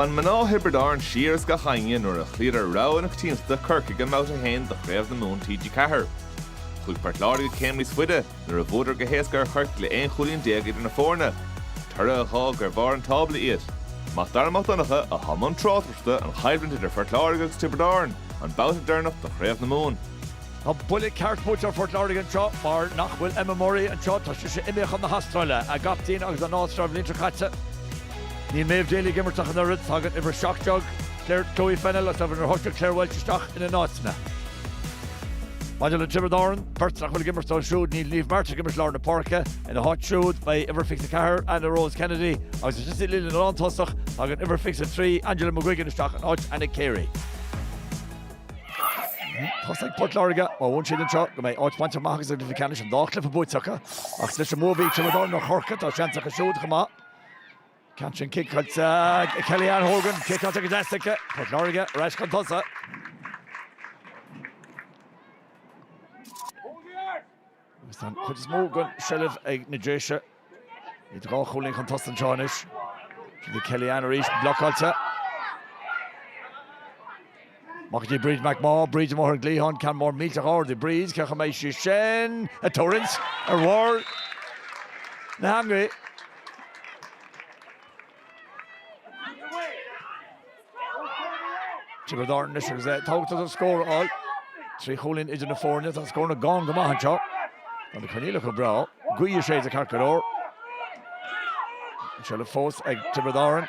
Bhain mná Thiobraid Árann siar as gach éinne nuair a chloíodar rogha na coitiantachta Corcaigh i mBabhta 1 de Chraobh na Mumhan TG4. Chuaigh Port Láirge céim níos faide nuair a bhuadar go héasca ar Chiarraí le 11 chúilín idir na foirne, toradh a dh'fhág ar bharr an tábla iad. Mac Dara Mac Donncha i mbun tráchtaireachta ar an gcoimhlint idir Phort Láirge agus Tiobraid Árann an babhta deireanach de Chraobh na Mumhan. Tá buille ceart buailte ar Phort Láirge anseo mar nach bhfuil Emma Murray anseo, tá sise imithe chun na hAstráile, a gcaptaen agus a n-áiméar an bhliain seo caite. Níl Maeve Daly ag imirt ach an oiread, tagann uimhir 17 Claire, Chloe Fennell, agus uimhir a 18 Claire Walsh isteach ina n-áiteanna. Maidir le Tiobraid Árann, beirt nach bhfuil ag imirt dóibh siúd, níl Niamh Martin ag imirt lár na páirce, ina háit siúd beidh uimhir 24 Anna Rose Kennedy agus ansin sa líne lántosach, tagann uimhir 23 Angela McGuigan isteach in áit Anna Carey. Tá a fhios ag Port Láirge má bhuann siad anseo go mbeidh áit bainte amach acu sa gcluiche ceannais an dá chluiche buaite acu ach leis an mbua a bhí ag Tiobraid Árann ar Chorcaigh tá seans acu siúd chomh maith. Ansin cic ag Kellyanne Hogan, cic atá go deas aici, Port Láirge ar ais chun tosaigh. Agus tá an chuid is mó den seilbh ag na Déise. Iad dhá chúilín chun tosaigh anseo anois. Seo í Kellyanne arís blocáilte. Amach go dtí Bríd McMaugh, Bríd amuigh ar an gcliathán, ceann mór millteach ard ag Bríd, cé go mbeidh sé sin ag tuirlingt ar bharr na heangaí. Tiobraid Árann anois agus é tábhachtach an scór a fháil. Trí chúilín idir na foirne tá na scóranna gann go maith anseo. Tá na coinníollacha go breá. Gaoth ag séideadh ceart go leor. Seilbh fós ag Tiobraid Árann.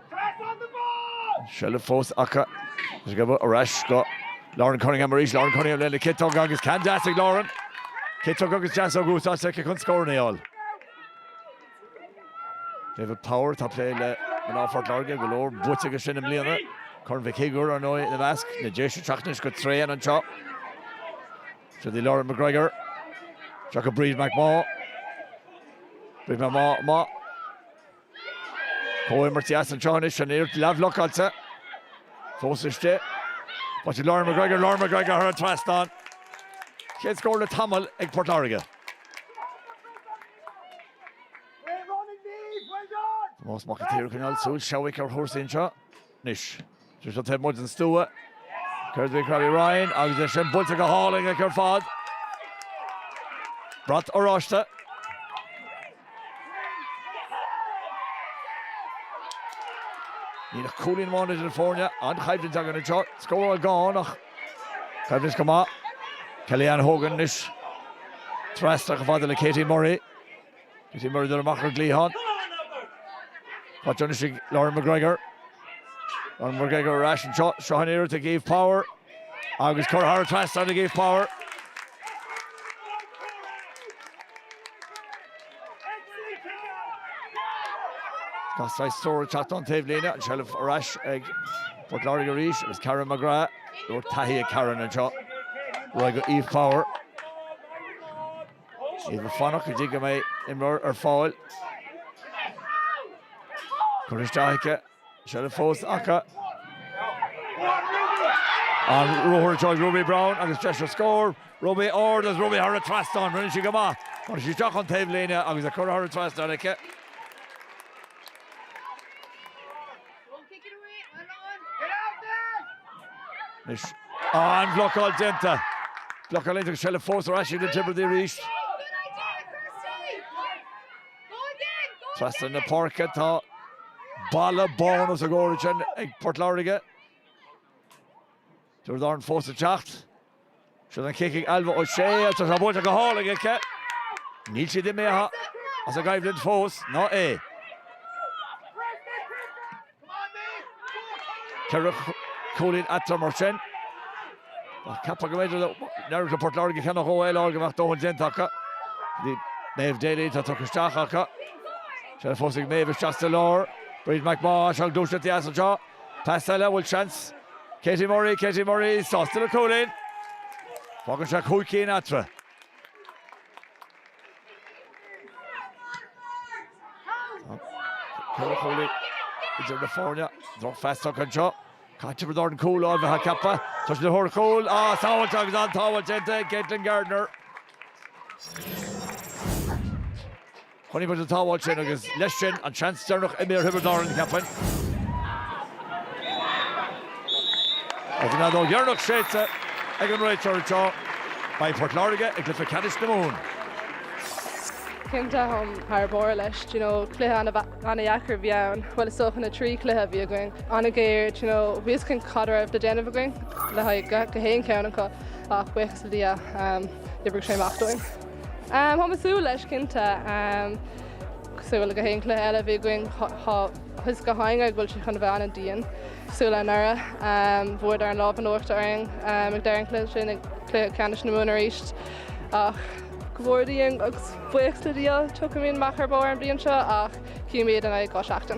Seilbh fós acu. Isteach ar ais go Lauren Cunningham arís. Lauren Cunningham lena ciotóg agus ceann deas ag Lauren. Ciotóg agus deasóg in úsáid aici chun scór a fháil. David Power atá ag plé le mná Phort Láirge go leor buaite aige sin i mbliana. Corn Mhic Shigiúir ar ndóigh ina measc. Na Déise ag teacht anois go tréan anseo. Seo í Lauren McGregor. Seo go Bríd McMaugh. Bríd McMaugh. Comhimirt dheas anseo anois, an iarracht leathbhlocáilte fós istigh. Baisteadh Lauren McGregor, Lauren McGregor thar an trasnán. Chéad scór le tamall ag Port Láirge. Tomás Mac an tSaoir, ag coinneáil súil seabhaic ar chúrsaí anseo anois. Sé seo taobh amuigh den stua. Clara Ryan agus é sin buailte go hálainn aici ar fad. Brat oráiste. Níl ach cúilín amháin idir na foirne. An-choimhlint againn anseo. Scóráil gann ach coimhlint go maith. Kellyanne Hogan anois trasna chomh fada le Katie Murray. Katie Murray amach ar an gcliathán. Tá tionchas ag Lauren McGregor. Lauren McGregor ar ais anseo. Seo an iarracht ag Eve Power agus curtha thar an trasnán ag Eve Power. Tá saghas treoir ag teacht ón taobh líne. An seilbh ar ais ag Port Láirge arís agus Karen McGrath. Go leor taithí ag Karen anseo. Ar aghaidh go Eve Power. Iad ag fanacht go dtí go mbeidh imreoir ar fáil. Curtha isteach aici. Seilbh fós acu. An ruathar atá ag Ruby Browne agus deis ar scór. Ruby ard agus Ruby thar an trasnán. Rinne sí go maith. Ghearr sí isteach ón taobh líne agus é curtha thar an trasnán aici. Anois an bhlocáil déanta. Blocáil déanta acu, seilbh fós ar ais ag Tiobraid arís. Trasna na páirce tá balla bán os a gcomhair ansin ag Port Láirge. Tiobraid Árann fós ag teacht. Sin an cic ag Ailbhe O'Shea agus tá buailte go hálainn aici. Níl siad imithe as an gcoimhlint fós, ná é. Ceithre cúilín eatarthu mar sin. Cheapfá go mb'fhéidir dá n-éireodh le Port Láirge ceann a dhó eile a fháil go mbeadh dóthain déanta acu. Bhí Maeve Daly atá tugtha isteach acu. Seilbh fós ag Maeve isteach sa lár. Bríd McMaugh, seo gluaiseacht dheas anseo. Pas eile, an bhfuil seans. Katie Murray, Katie Murray sásta le cúilín. Fágann sé cúig cinn eatarthu. Ceithre chúilín idir na foirne. Drochphas tugtha anseo. Caithfear dul ar thóir an chúil anois cheapfá. Tá siad ar thóir cúil, ó sábháilt agus an-tsábháilt déanta ag Caitlin Gardner. Chonaic muid an tsábháil sin agus leis sin, an seans deireanach imithe ar Thiobraid Árann, cheapfainn. Agus an fheadóg dheireanach séidte ag an réiteoir anseo, beidh Port Láirge i gcluiche ceannais na Mumhan. Cinnte, táim thar barr leis. Do you know, cluiche ana-dheacair a bhí ann. Bhuel, is dócha na trí chluiche a bhí againn. An-ghéar, do you know, bhí fhios againn cad a raibh le déanamh againn le haghaidh gach aon cheann acu ach buíochas le Dia, d'oibrigh sé amach dúinn. Táim ag súil leis, cinnte. Cosúil le gach aon cluiche eile a bhí againn tá fhios againn go bhfuil siad chun a bheith an-dian. Cosúil le anuraidh. Fuaireadar an lámh in uachtar orainn ag deireadh an chluiche sin, ag cluiche ceannais na Mumhan arís ach. Go bhfóire Dia orainn agus buíochas le Dia, tiocfaimid amach ar bharr an bhliain seo ach cífimid i ndiaidh dhá seachtain.